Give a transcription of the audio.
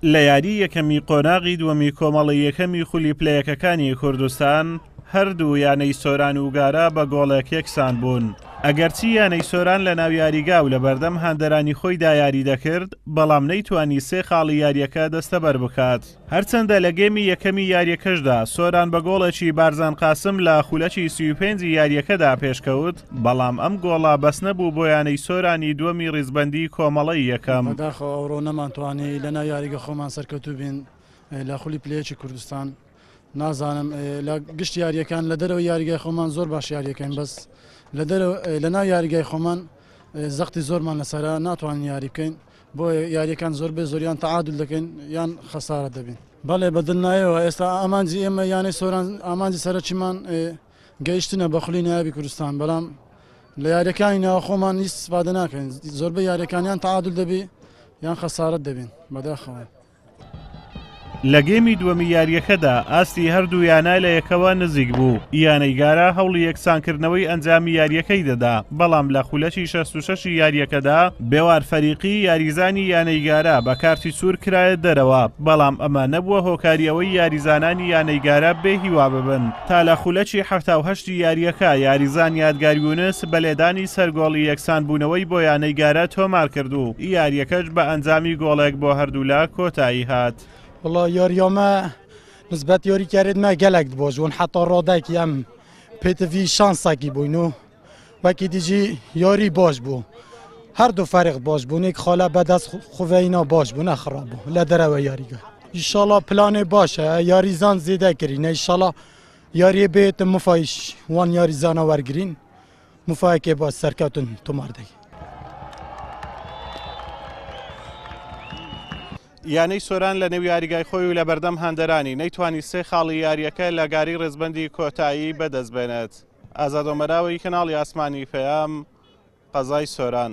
لە یاری یەکەمی قۆناغی دووەمی کۆمەڵی یەکەمی خولی پلە یەکەکانی کوردستان، هەردوو یانەی سۆران و گارە بە گۆڵێک یەکسان بوون، ئەگەرچی یانەی سۆران لەناو یاریگا و لەبەردەم هاندەرانی خۆیدا یاری دەکرد، بەڵام نەیتوانی سێ خاڵی یارییەکە دەستەبەر بکات. هەرچەندە لە گێمی یەکەمی یارییەکەشدا سۆران بە گۆڵێکی بارزان قاسم لە خولەکی سی و پێنجی یارییەکەدا پێشکەوت، بەڵام ئەم گۆڵە بەس نەبوو بۆ یانەی سۆرانی دووەمی ڕیزبەندیی کۆمەڵەی یەکەم. بەداخەوە ئەوڕۆ نەمانتوانی لەناو یاریگە خۆمان سەرکەوتوو بین لە خولی پلەیەکی کوردستان. نازانم لە گشت یارییەکان لە دەرەوەی یاریگای خۆمان زۆر باش یارییەکەین بەس لەناو یاریگای خۆمان زەختی زۆرمان لەسەرە ناتوانین یاری بکەین. بۆ یارییەکان زۆر بێ زۆریان تەعادول دەکەین یان خەسارە دەبین. بەڵێ بە دڵنایەوە ئێستا ئامانجی ئێمە یانەی سۆران ئامانجی سەرەکیمان گەیشتنە بە خولی نایابی کوردستان بەڵام لە یاریەکانی ناوخۆمان هیچ سپادە ناکەین زۆربە یاریەکانیان تعادل دەبی یان خەسارت دەبین بەداخەوە. لە گێمی دووەمی یاریەکەدا ئاستی هەردوو یانە لە یەکەوە نزیک بوو یانەی گارە هەوڵی یەکسانکردنەوەی ئەنجامی یاریەکەی دەدا بەڵام لە خولەکی 66 یاریەکەدا بێوار فەریقی یاریزانی یانەی گارە بە کارتی سوور کرایە دەرەوە بەڵام ئەمە نەبووە هۆکاری ئەوەی یاریزانانی یانەی گارە بێ هیوا ببن. تا لە خولەکی حەفتا و هەشتی یارییەکە یاریزان یادگار یونس بە لێدانی سەر گۆڵی یەکسانبوونەوەی بۆ یانەی گارە تۆمارکرد و یارییەکەش بە ئەنجامی گۆڵێک بۆ هەردوولا کۆتایی هات. وەڵا یارییەمە نسبەت یاریکەرێدمە گەلەک دبۆزبوون حەتا ڕادەک یەم پێتڤی شانسەکی بووین و وەکی دیجی یۆری بۆش بوو هەردوو فەرق بۆش بوونێک خۆلا بەدەست خوێینەوە بۆش بوو نەخڕا بوو لە دەرەوە یاریگە ئیشاڵا پلانێ باشە یاریزان زیدە کردی نەیشەڵا یاریێ بێتە مفایش وان یاریزانە وەرگین مفاکێ بۆ سەرکەوتن تۆماردەی یانەی سۆران لە نێو یاریگای خۆی و لە بەردەم هەندەرانی نەیتوانی سێ خاڵی یاریەکە لە گاری ڕێزبندی کۆتایی بەدەست بێنێت. ئازادۆمەراوەی کەناڵی ئاسمانی پەیام، قەزای سۆران.